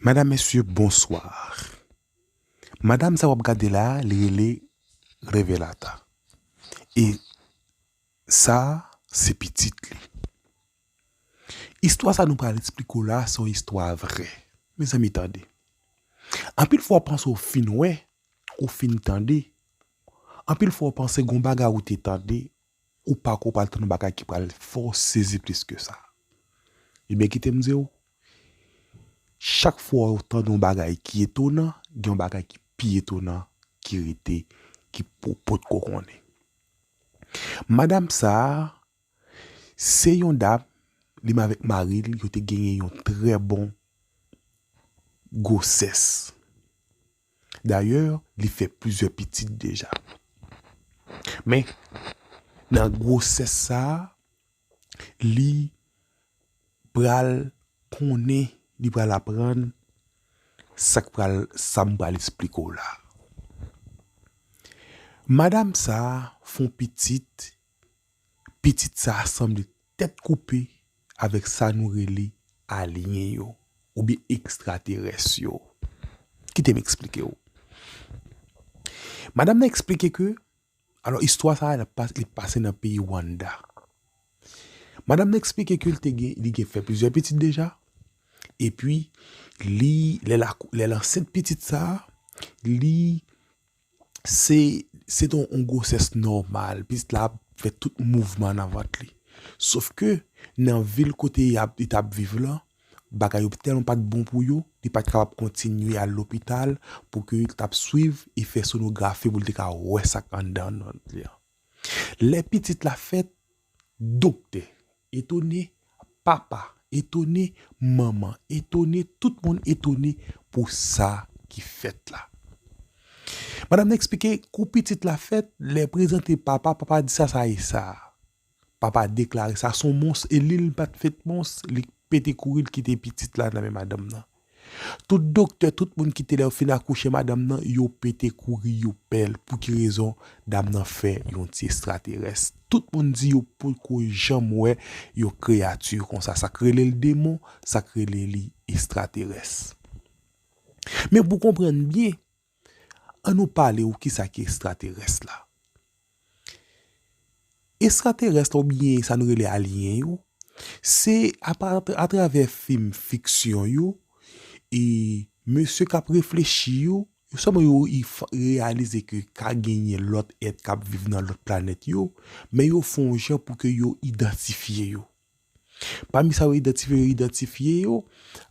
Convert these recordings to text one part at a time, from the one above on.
Madam mesye bonsoir madam sa wap gade la li rele revelata e sa se pitit li istwa sa nou pral esplike w la se yon istwa vrè mezanmi tande anpil fwa w panse w fin wè ou fin tande anpil fwa w panse gon bagay ou te tande Ou pako pral tann bagay ki pral fè w sezi plis ke sa. Ebyen kite m di w, chak fwa ou tande yon bagay ki etonan, gen yon bagay ki pi etonan ki rete ki ou potko konnen. Madam sa a, se yon dam, li menm avèk mari l, yo te genyen yon trè bon gwosès. Dayè, li fè plizyè pitit deja. Men, nan gwosès sa a, li pral konnen, li pral aprann sa k pral, sa m pral esplike w la a. Madam sa a fè yon pitit, pitit sa a sanble Tèt koupe avèk sa nou rele alyen yo oubyen ekstraterès yo. Kite m eksplike w. Madam nan eksplike ke, alò istwa sa a li pase nan peyi Wannda. Madam nan eksplike ke li gen fè plizyè pitit deja, epi li, lè l ansent pitit sa a, li Se se te yon gwosès nòmal, pitit la ap fè tout mouvman nan vant li. Sof ke nan vil kote y ap li t ap viv lan, bagay yo tèlman pa t bon pou yo, li pa t kapab kontinye al lopital pou ke yo t ap swiv e fè sonografi pou l te ka wè sa k anndan vant li an. Lè pitit la fèt, Doktè etone, papa etone, manman etone, tout moun etone pou sa ki fèt la. Madam nan eksplike kou pitit la fèt, lè prezante papa, papa di sa sa ye sa? Papa deklare sa son mons e li li pat fèt mons, li pete kouri li kite pitit la nan men madanm nan. Tout doktè tout moun kite lè yo fin akouche madanm nan yo pete kouri yo pèl pouki rezon dam nan fè yon ti estraterès tout moun di yo potko janm wè yon kreyati konsa sak relel demon sak rele li estraterès men pou konprann byen An nou pale ou kisa ki estraterès la. Estraterès la ou byen sa nou rele alien yo, se a travè fim fiksyon yo, e mesye k ap reflechi yo, yo sèlman yo reyalize ke ka genyen lòt èt k ap viv nan lòt planèt yo, men yo fon jan pou ke yo idantifye yo. Pami sa yo idantifye, yo idantifye yo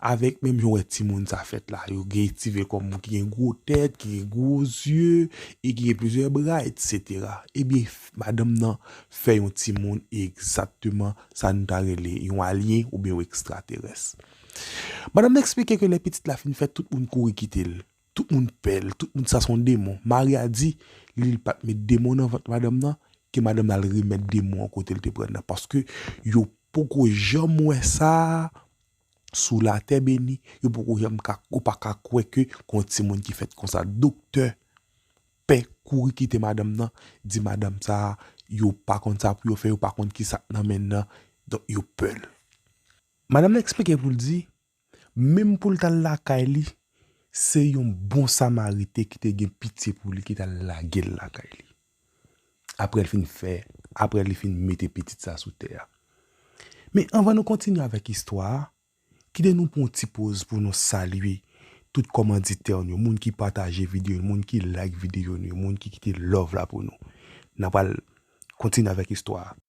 avèk menm jan w wè timoun sa fèt la. Yo gen ti vè kòm moun ki gen gwo tèt, ki gen gwo zye, e ki gen plizyè bra, etsetera. Ebyen, madanm nan fè yon timoun egzakteman sa nou ta rele yon alyen oubyen yon ekstraterès. Madanm nan eksplike ke lè pitit la fin fèt, tout moun kouri kite l. Tout moun pèl, tout moun sa son demon. Mari a di li li pat met demon nan vant madanm nan, ke madanm nan al remèt demon an kotel te prann nan paske yo poko janm wè sa sou latè beni, yo poko janm ka yo pa ka kwè ke gon timoun ki fèt konsa. Doktè pè kouri kite madanm nan, di madanm sa yo pa konn sa pou yo fè, yo pa konn ki sak nan men nan, donk yo pèl. Madanm nan eksplike poul di. Menm pou l t al lakay li, se yon bon Samariten ki te gen pitye pou li ki t al lage l lakay li, apre l fin fè, apre li fin mete pitit sa a sou tè a. Men, anvan nou kontinye avèk istwa a, kite nou pran yon ti poz pou nou salye tout kòmanditè nou yo, moun ki pataje videyo nou yo, moun ki like videyo nou yo, moun ki kite love la pou nou. N apral kontinye avèk istwa a.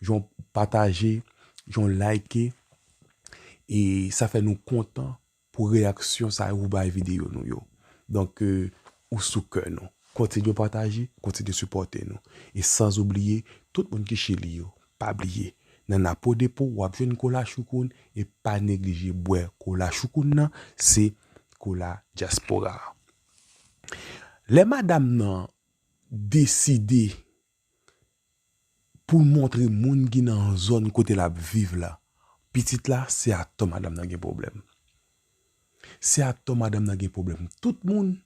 Jan w pataje, jan w like e sa fè nou kontan pou reyaksyon sa yo ou bay videyo nou yo. Donk ou sou kè nou. Kontinye pataje, kontinye sipòte nou. E sans oubliye tout moun ki Chili yo. Pa bliye nan Napo Depo w ap jwenn kola choukoun e pa neglije bwè kola choukoun nan se kola dyaspora. Lè madam nan deside pou l montre moun ki nan zòn kote l ap viv la, pitit la se ak to madanm nan gen pwoblèm. Se ak to madanm nan gen pwoblèm. Tout moun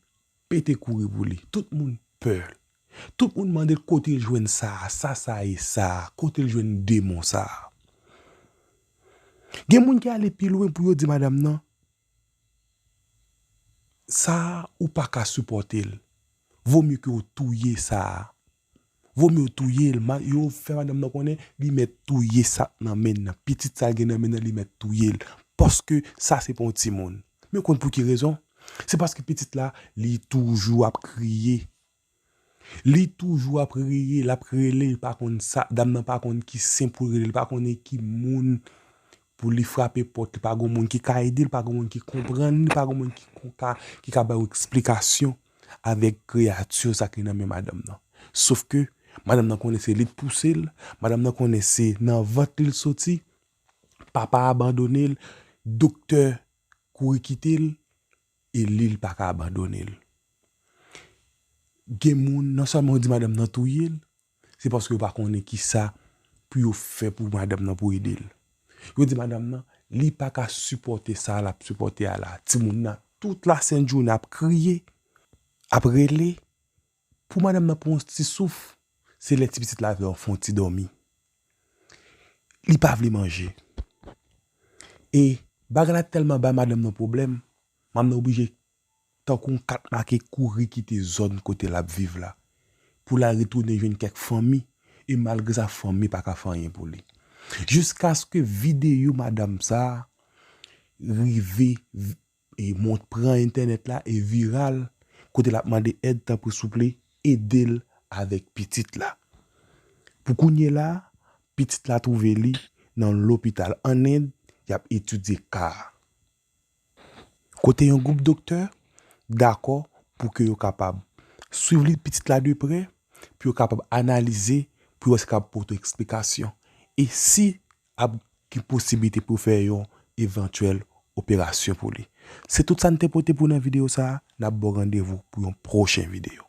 pete kouri pou li. Tout moun pè l. Tout moun mande l kote l jwenn sa a, sa sa ye sa a, kote l jwenn demon sa a. Gen moun ki ale pi lwen pou yo di madanm nan, Sa a ou pa ka sipòte l. Vo mye ke w touye sa a. Vo mye w touye l. Yo fè madanm nan konnen li mèt touye sa k nan men l nan. Pitit sa l gen nan men l nan li mèt touye l. Paske sa se pa yon timoun. Men w konn pou ki rezon? Se paske pitit la li toujou ap kriye. Li toujou ap reye, lap rele, li pa konn sa, dam nan pa konn ki sen poul rele, li pa konnen ki moun pou li frape pòt, li pa gon moun ki ka ede, li pa gon moun ki konprann li, li pa gon moun ki kon ka, ki ka bay ou eksplikasyon avèk kreyati sa ki nan men madanm nan. Sof ke, madanm nan konnen se li k pouse l, madanm nan konnen se nan vant li l soti, papa abandone l, doktè kouri kite l, E lil paka abandonel. Gen moun non selman yo di madam nan touyel, se paske yo pa konnen kisa pou yo fè pou madam nan pou edel. Yo di madam nan li paka sipòte sa lap sipòte a la. Timoun nan tout la sent jounen ap kriye, ap rele. Pou madanm nan pran yon ti souf, se lè ti pitit la vle al fè yon ti dòmi. Li pa vle manje. E bagay la tèlman bay madanm nan pwoblèm, madanm nan oblije tankou yon kat make kouri kite zòn kote l ap viv la pou l al retounen jwenn kèk fanmi e malgre sa fanmi pa ka fè anyen pou li. Jiskaske videyo madanm sa a rive E mont pran entènèt la e viral kote lap mande èd tanpri souple edel avèk pitit la. Pou kounye la a, pitit la twouve li nan lopital an End yap etidye ka a. Kote yon gwoup doktè dakò pou ke yo kapab swiv li pitit la de prè pou yo kapab analize pou yo wè si kapab pote eksplikasyon e si ap gen posibilite pou yo fè yon evantyèl operasyon pou li. Se tout sa n te pote pou w nan videyo sa a. N ap ba w randevou pou yon pwochen videyo.